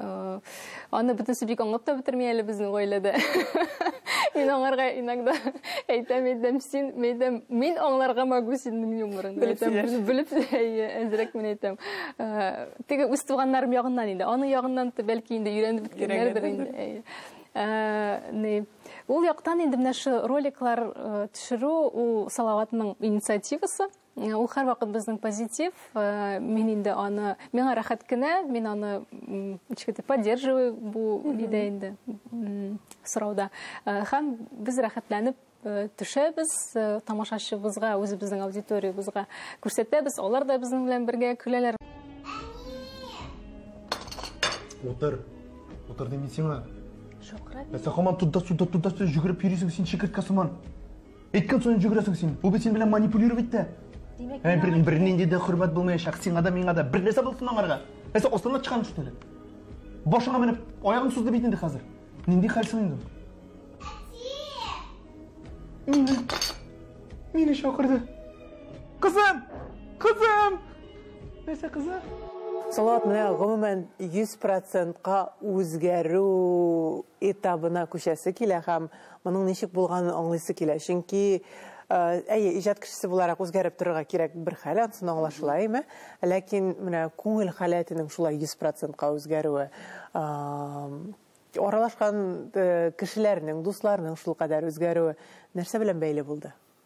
аны бөтенесе бик аңлап та бетерми әле безнең гаиләдә. Мин аңарга иногда әйтәм, әйтәм, син, әйтәм, мин аңларга могу синең юморыңны. Әйтәм, белеп әзрәк мин әйтәм. Теге үз туганнарым ягыннан инде. Аның ягыннан бәлки инде өйрәнеп беткәннәрдер инде. Ә, ул яктан инде менә шу роликлар э, төшерү ул Салаватның инициативасы. Э, ул һәрвакыт безнең позитив. Э, мин инде аны миңа рәхәт кенә, мин аны ничектер поддерживаю бу идея инде сорауда. Һәм без рәхәтләнеп Э, төшәбез э, тамашачыбызга үзебезнең аудиториябезгә күрсәтәбез алар да безнең белән бергә көләләр утыр утыр дим мин сиңа шакырабыз ә син һаман туда суда туда суда жүгереп йөрисең син чикерткә сыман әйткән саен жүгерәсең син бу бит син белән манипулировать итә димәк ә бер бернинди дә хөрмәт булмаячак сиңа да миңа да бер нәрсә булсын аңарга ә син астына чыккан шул әле башыңа менеп аягың сузды бит инде хәзер Нинди хәл соң инде? Мине, мине чакырды. Кызым! Кызым! Нәрсә кызы? Салат менә гомумән 100%ка үзгәрү этабына күчәсе килә һәм Моның ничек булганын аңлыйсы килә, чөнки, әйе, иҗат кешесе буларак үзгәреп торырга кирәк бер хәл, ансын аңлашыла, әйме? Ләкин менә күңел халәтенең шулай йөз процентка үзгәрүе, аралашкан кешеләрнең, дусларның шулкадәр үзгәрүе нәрсә белән бәйле булды?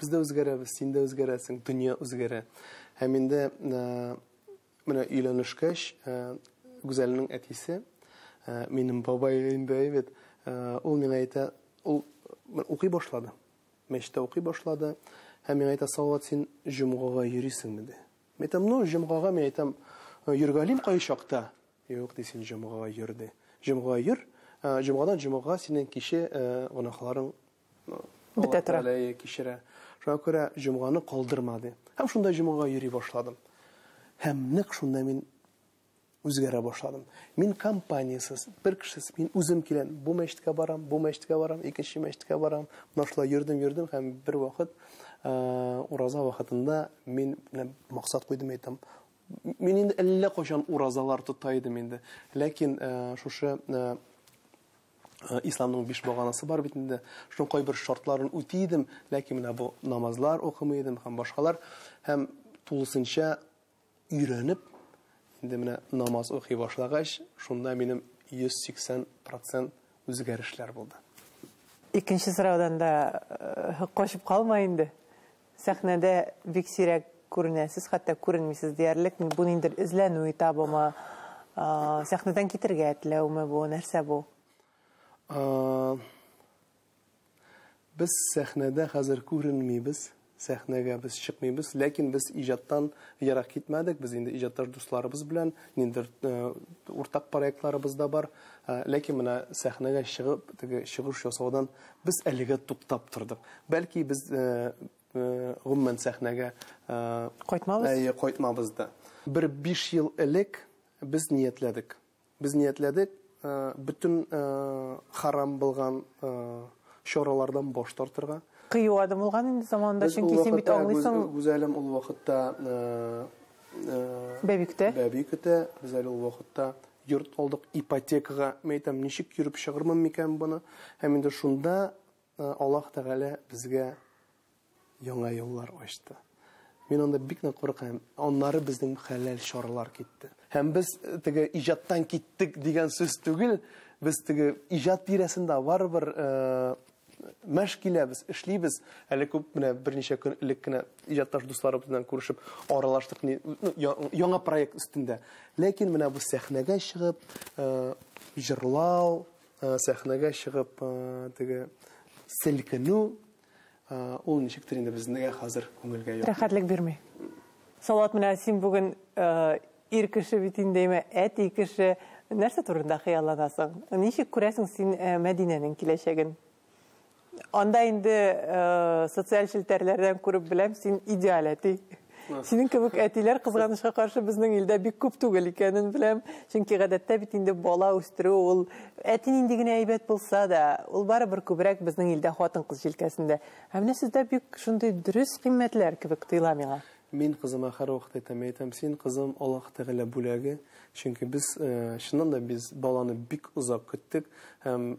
Без дә үзгәрәбез, син дә үзгәрәсең, дөнья үзгәрә. Һәм инде менә өйләнешкәч, Гүзәлнең әтисе, минем бабай инде бит, ул миңа әйтә, ул укый башлады. Мәчеттә укый башлады. Һәм миңа әйтә, Салават, син җомгага йөрисеңме ди. Мин әйтәм, ну, җомгага мин әйтәм, йөргалим кай чакта? Юк, ди, син җомгага йөр ди. Җомгага йөр, җомгадан җомгага синең кичә гөнаһларың Бетә тора. Аллаһы кичерә. Шуңа күрә җомганы калдырма, ди. Һәм шунда җомгага йөри башладым. Һәм нәкъ шунда мин үзгәрә башладым. Мин компаниясез, бер кешесез, мин үзем киләм, бу мәчеткә барам, бу мәчеткә барам, икенче мәчеткә барам. Менә шулай йөрдем, йөрдем һәм бер вакыт ураза вакытында мин менә максат куйдым әйтәм. Мин инде әллә кайчан уразалар тота идем инде. Ләкин шушы Э, исламның биш баганасы бар бит инде шуның кайбер шартларын үти идем ләкин менә бу намазлар укымый идем һәм башкалар һәм тулысынча өйрәнеп инде менә намаз укый башлагач шунда минем 180 процент үзгәрешләр булды икенче сораудан да э, качып калма инде Сәхнәдә бик сирәк күренәсез, хәтта күренмисез диярлек. Бу ниндидер эзләнү этабымы? Сәхнәдән китергә теләүме бу? Нәрсә бу? Без сәхнәдә хәзер күренмибез. Сәхнәгә без чыкмыйбыз, ләкин без иҗаттан ерак китмәдек. Без инде иҗатташ дусларыбыз белән ниндидер уртак проектларыбыз да бар. Ләкин менә сәхнәгә чыгып, теге чыгыш ясаудан Без әлегә туктап тордык. Бәлки без гомумән сәхнәгә Кайтмабыз? Әйе, кайтмабыз да. Бер биш ел элек без ниятләдек. Без ниятләдек бөтен харам булган чаралардан баш тартырга. Кыю адым булган инде заманында, чөнки син бит аңлыйсың. Без Гүзәлем ул вакытта бәби көтә. Бәби көтә, Гүзәл ул вакытта Йорт алдык ипотекага, мәйтәм, ничек йөреп чыгырмын микән моны? Һәм инде шунда Аллаһ Тәгалә безгә яңа юллар ачты. Мин анда бик нык куркам. Аннары безнең хәләл чаралар китте. Һәм без теге иҗаттан киттек дигән сүз түгел, без теге иҗат тирәсендә барыбер Мәш киләбез, эшлибез. Әле күп менә берничә көн элек кенә иҗатташ дусларыбыз белән күрешеп аралаштык, ни, ну, я- яңа проект өстендә. Ләкин менә бу сәхнәгә чыгып, э, җырлау, э, сәхнәгә чыгып, э, теге селкенү, э, ул ничектер инде безнегә хәзер күңелгә ят. Рәхәтлек бирми. Салават, менә син бүген, э, Ир кеше бит инде, имә, әти кеше. Нәрсә турында хыялланасың? Ничек күрәсең син Мәдинәнең киләчәген? Анда инде социаль челтәрләрдән күреп беләм, син идеаль әти. Синең кебек әтиләр кызганычка каршы безнең илдә бик күп түгел икәнен беләм. Чөнки гадәттә бит инде бала үстерү ул әти нинди генә әйбәт булса да, ул барыбер күбрәк безнең илдә хатын-кыз җилкәсендә. Ә менә сездә бик шундый дөрес кыйммәтләр кебек тоела миңа. Мин кызыма һәрвакыт әйтәм, әйтәм, син, кызым, Аллаһ Тәгалә бүләге, чөнки без, чыннан да, без баланы бик озак көттек һәм,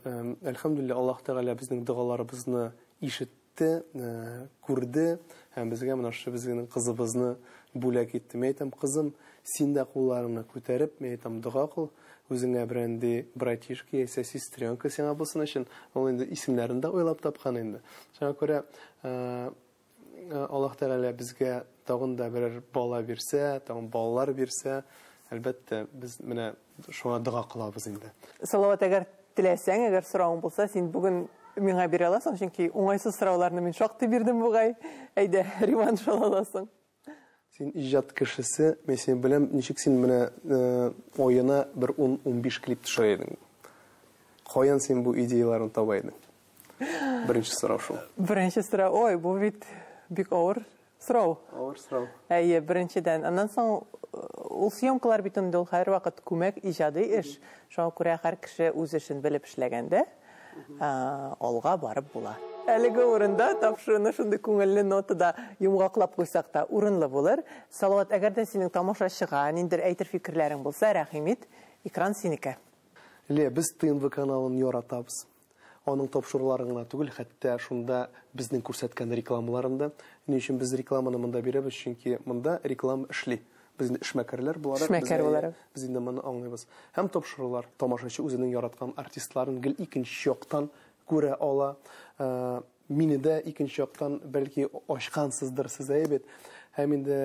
әлхәмдүлилләһ, Аллаһ Тәгалә безнең догаларыбызны ишетте, күрде һәм безгә менә шушы безнең кызыбызны бүләк итте. Мин әйтәм, кызым, син дә кулларыңны күтәреп, мин әйтәм, дога кыл, үзеңә берәнди братишка яисә сестренка сиңа булсын өчен. Ул инде исемнәрен дә уйлап тапкан инде. Шуңа күрә, Э, Аллаһ Тәгалә безгә тагын да берәр бала бирсә, тагын балалар бирсә, әлбәттә, без менә шуңа дога кылабыз инде. Салават, әгәр теләсәң, әгәр сорауың булса, син бүген миңа бирә аласың, чөнки уңайсыз сорауларны мин шактый бирдем бугай. Әйдә, Риман шул аласың. Син иҗат кешесе, мин сине беләм, ничек син менә аена бер 10-15 клип төшә идең? Каян син бу идеяләрне таба идең? Беренче сорау шул. Беренче сорау, ой, бу бит бик авыр сорау. Авыр сорау. Әйе, беренчедән. Аннан соң ул съемкалар бит инде ул һәрвакыт күмәк иҗади эш. Шуңа күрә һәр кеше үз эшен белеп эшләгәндә, алга барып була. Әлеге урында тапшыруны шундый күңелле нотада йомгаклап куйсак та урынлы булыр. Салават, әгәр дә синең тамашачыга ниндер әйтер фикерләрең булса, рәхим ит, экран синеке. Лия, без ТНВ каналын яратабыз. Аның тапшыруларын гына түгел, хәтта шунда безнең күрсәткән рекламаларын да. Ни өчен без рекламаны монда бирәбез? Чөнки монда реклама эшли. Без инде эшмәкәрләр буларак, Эшмәкәр буларак. без инде моны аңлыйбыз. Һәм тапшырулар. Тамашачы үзенең яраткан артистларын гел икенче яктан күрә ала. Мине дә икенче яктан, бәлки, ачкансыздыр сез, әйе бит? Һәм инде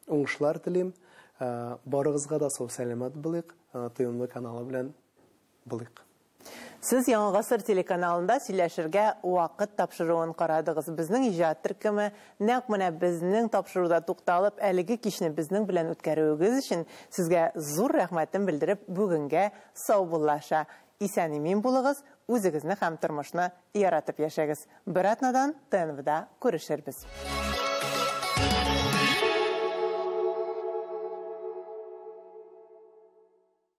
уңышлар телим. Барыгызга да сау-сәламәт булыйк. ТМ каналы белән булыйк. Сез Яңа гасыр телеканалында сөйләшергә вакыт тапшыруын карадыгыз. Безнең иҗат төркеме, нәкъ менә безнең тапшыруда тукталып, әлеге кичне безнең белән үткәрүегез өчен сезгә зур рәхмәтен белдереп, бүгенгә саубуллаша. Исән-имин булыгыз, үзегезне һәм тормышны яратып яшәгез. Бер атнадан ТНВда күрешербез.